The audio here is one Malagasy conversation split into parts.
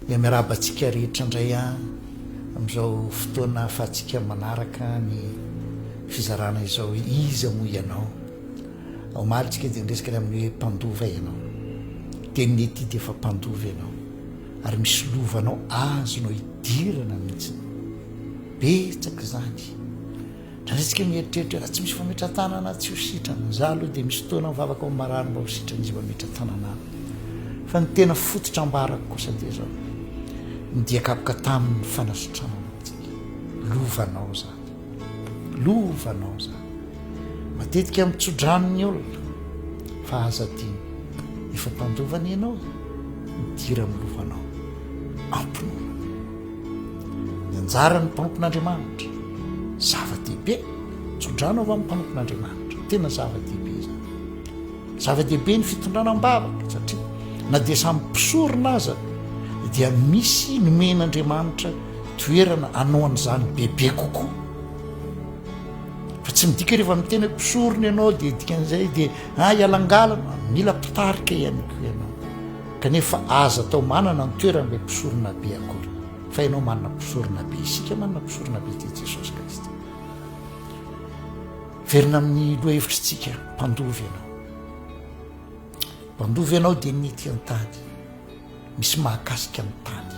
Dia miarahaba antsika rehetra indray amin'izao fotoana ahafahantsika manaraka ny fizarana izao Iza moa ianao? Omaly tsika dia niresaka ny amin'ny hoe mpandova ianao. Dia ny ity dia efa mpandova ianao ary misy lovanao azonao idirana mihitsy. Betsaka izany. Raha isika mieritreritra hoe raha tsy misy fametra-tanana tsy ho sitrana, za aloha dia misy fotoana mivavaka ho marary mba ho sitrana izy mametra-tanana ahy. Fa ny tena fototra ambarako kosa dia izao, ny dia kapoka taminy fanasitranana antsika. Lovanao zany. Lovanao zany. Matetika mitsodrano ny olona fa aza adino. Efa mpandova ny anao, midira amin'ny lovanao. Ampinono. Ny anjaran'ny mpanompon'Andriamanitra, zava-dehibe. Tso-drano avy amin'ny mpanompon'Andriamanitra. Tena zava-dehibe izany. Zava-dehibe ny fitondrana am-bavaka, satria na dia samy mpisorona aza, dia misy nomen'Andriamanitra toerana anaon'izany bebe kokoa. Fa tsy midika rehefa miteny hoe mpisorona ianao dia dikan'izay dia ah, ialangalana, mila mpitarika ihany koa ianao. Kanefa aza atao manana ny toeran' ilay mpisoronabe akory, fa ianao manana mpisoronabe, isika manana mpisoronabe, dia Jesosy Kristy. Velona amin' ny lohahevitritsika, mpandova ianao. Mpandova ianao dia mety an-tady, misy mahakasika ny tany.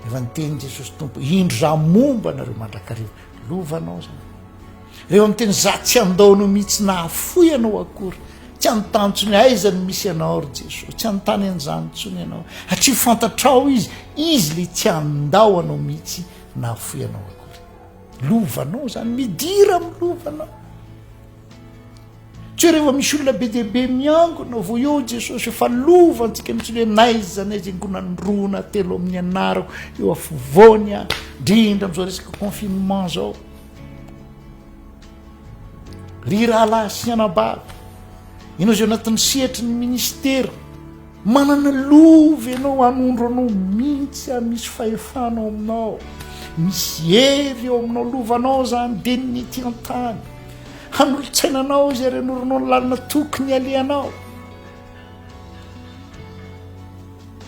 Efa niteny Jesosy Tompo, indro za momba anareo mandrakariva. Lova anao zany. Reo am teny za tsy andao anao mihitsy nahafoy anao akory. Tsy anontany tsony aiza no misy anao ry Jesosy. Tsy anontany an'izany tsony ianao. Hatria fantatrao izy, izy le tsy andao anao mihitsy nahafoy anao akory. Lova anao zany, midira am lova anao. Tsy rehefa misy olona be dia be miangona vao eo Jesosy eo fa lova antsika mitsy hoe naiza naiza ingonandrona telo amin'ny anarako eo afovoany a drindra am'izao resaka confinement zao ry rahalahy sy anabavy ianao izay anatin'ny sehatry ny ministera Manana lova ianao hanondro anao mihitsy ary misy fahefana ao aminao. Misy hery eo aminao, lovanao izany, dia ny ety an-tany. Hanolotsaina anao izy ary hanoranao ny lalana tokony halehanao.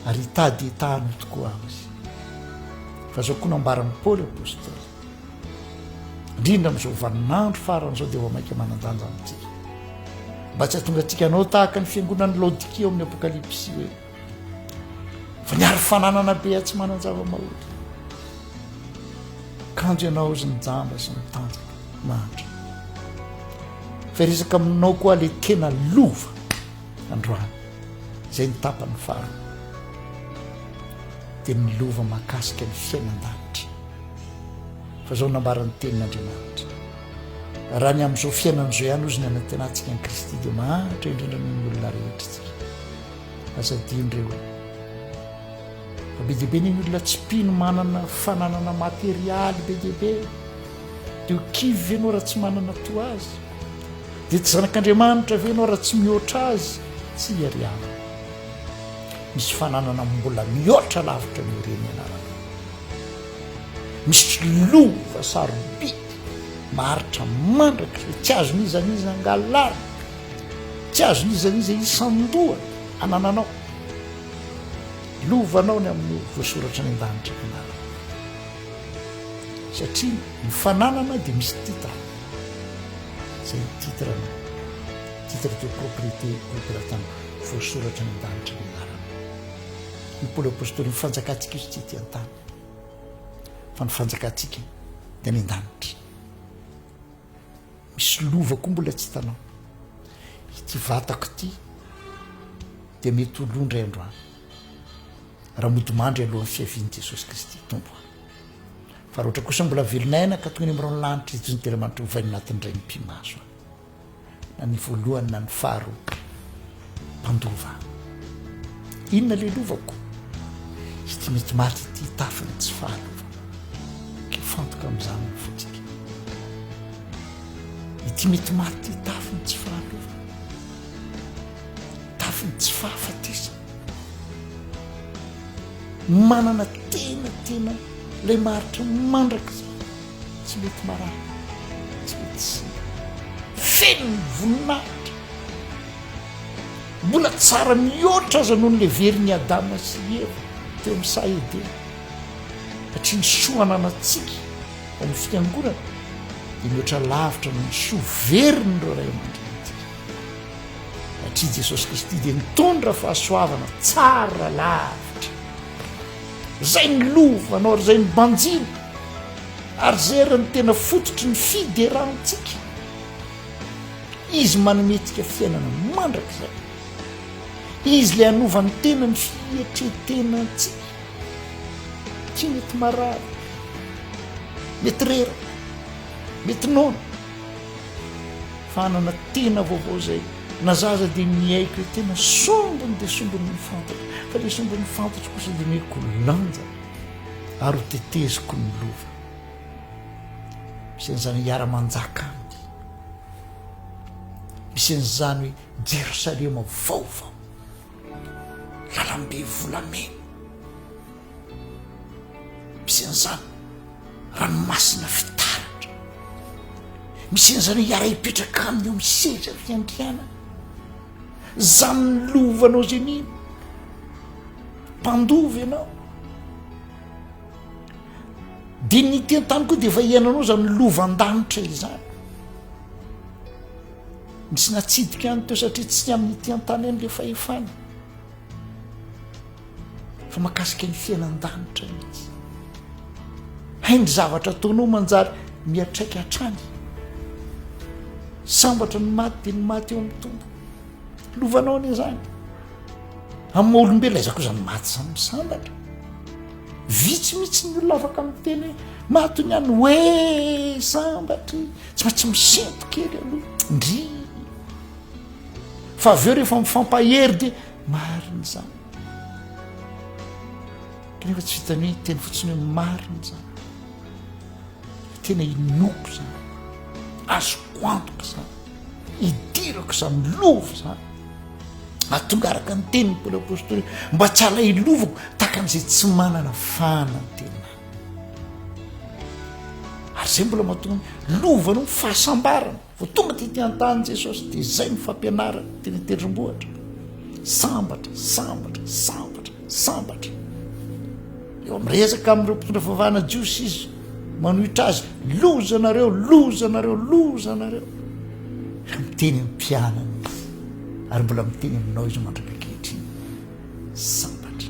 Ary hitady hitahanao tokoa aho izy. Fa izao koa nambaran'i Paoly Apostoly, Indrindra amin'izao vaninandro farany izao dia vao mainka manan-danja amintsika. Mba tsy hahatonga antsika hanao tahaka ny fiangonan'ny Laodikia ao amin'ny Apokalypsy hoe fa niaro fananana be atsy manan-java-mahotra. Kanjo ianao izy nijamba sy mitanjaka mahantra. Fa resaka aminao koa le tena lova. Androany, izay ny tapany faharoa, dia ny lova mahakasika ny fiainan-danitra. Fa izao no nambaran'ny Tenin'Andriamanitra, Raha ny amin'izao fiainana izao ihany hozy ny anantenantsika an'i Kristy, dia mahantra indrindra noho ny olona rehetra isika. Aza adino re hoe, fa be dia be ny olona tsy mpino manana fananana materialy be dia be. Dia ho kivy ve ianao raha tsy manana toa azy? Dia tsy zanak'Andriamanitra ve ianao raha tsy mihoatra Azy? Tsia ry havana. Misy fananana mbola mihoatra lavitra noho ireny anarana. Misy lova sarobidy maharitra mandrakizay, tsy azon'iza n'iza angalarina, tsy azon'iza n'iza isan-doha anananao. Lovanao ny amin'ny voasoratra any an-danitra ny anarana. Satria ny fananana dia misy titre. Izay ny titre-na, titre de propriété Operatana voasoratra any an-danitra ny anarana. Ny Paoly Apostoly ny fanjakantsika izy tsy ety an-tany fa ny fanjakantsika dia any an-danitra. Misy lova koa mbola tsy hitanao. Ity vatako ity dia mety ho lo indray andro any raha mody mandry alohan'ny fiavian'i Jesosy Kristy Tompo. Fa roatra kosa mbola velona aina ka toy ny mirao ny lanitra izy toy ny telo aman-try ovaina anatin'ny iray mipi-maso any. Na ny voalohany na ny faharoa. Mpandova. Inona le lovako? Ity mety maty ity tafiny tsy fahalova. Ke fantoka amin'izany ny fotsika. Ity mety maty ity tafiny tsy fahalova. Tafiny tsy fahafatesana. Manana tena tena ilay maharitra mandrakizay, tsy mety marary, tsy mety simba, feno ny voninahitra, mbola tsara mihoatra aza noho ny leverin'i Adama sy i Eva teo amin'ny saha Edena, satria ny soa ananantsika ao amin'ny Fiangonana dia mihoatra lavitra noho ny soa verin'ireo ray aman-drenintsika. Satria Jesosy Kristy dia mitondra fahasoavana tsara lavitra izay ny lovanao ary izay ny banjina ary izay ary ny tena fototry ny fiderantsika. Izy manomentsika fiainana mandrakizay. Izy ilay hanovan'ny tena ny fietretenantsika. Tsy mety marary, mety reraka, mety noana. Fanana tena vaovao zay. Na za aza dia miaiky hoe tena sombiny dia sombiny ny fantatro, fa ilay sombin'ny fantatro kosa dia omeko lanja ary ho teteziko ny lova. Misy an'izany hiara-manjaka aminy. Misy an'izany hoe Jerosalema vaovao. Lalambe volamena. Misy an'izany ranomasina fitaratra. Misy an'izany hiara-hipetraka aminy eo amin'ny seza fiandrianana. Zany lovanao izay mino. Mpandova ianao. Dia ny teny tany koa dia efa hiainanao izany lovandanitra izany. Misy natsidika any teo satria tsy amin'ny ity an-tany any ilay fahefana fa makasika ny fiainan-danitra mihitsy. Hay ny zavatra ataonao manjary miatraika hatrany. Sambatra ny maty dia ny maty eo amin'ny tompo. Lovanao anie izany. Amin'ny maha olombelona aiza koa izany maty izany misambatra. Vitsy mihitsy ny olona afaka miteny hoe maty ny any hoe sambatry. tsy maintsy misento kely aloha ndry fa avy eo rehefa mifampahery de marina zany kanefa tsy vitany hoe teny fotsiny hoe marina zany tena inoko zany azoko antoka zany idirako zany lova zany atonga araka ny teniny paoly apostoly mba tsy alailovako tahaka an'izay tsy manana fana ny tenany Ary izay mbola mahatonga ny lovany ny fahasambarana. Vao tonga tety an-tany Jesosy dia izay ny fampianarany teny an-tendrombohitra. Sambatra, sambatra, sambatra, sambatra. Eo amin'ny rezaka amin'ireo mpitondra fivavahana jiosy izy manohitra azy, loza nareo, loza nareo, loza nareo. Miteny amin'ny mpianany izy ary mbola miteny aminao izy mandrak'ankehitriny. Sambatra.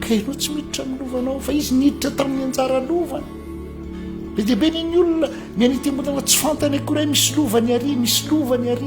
Ka ianao tsy miditra amin'ny lovanao fa izy niditra tamin'ny anjara lovany. Be dia be ny ny olona mianitembonana tsy fantany akory hoe misy lovany ary, misy lovany ary.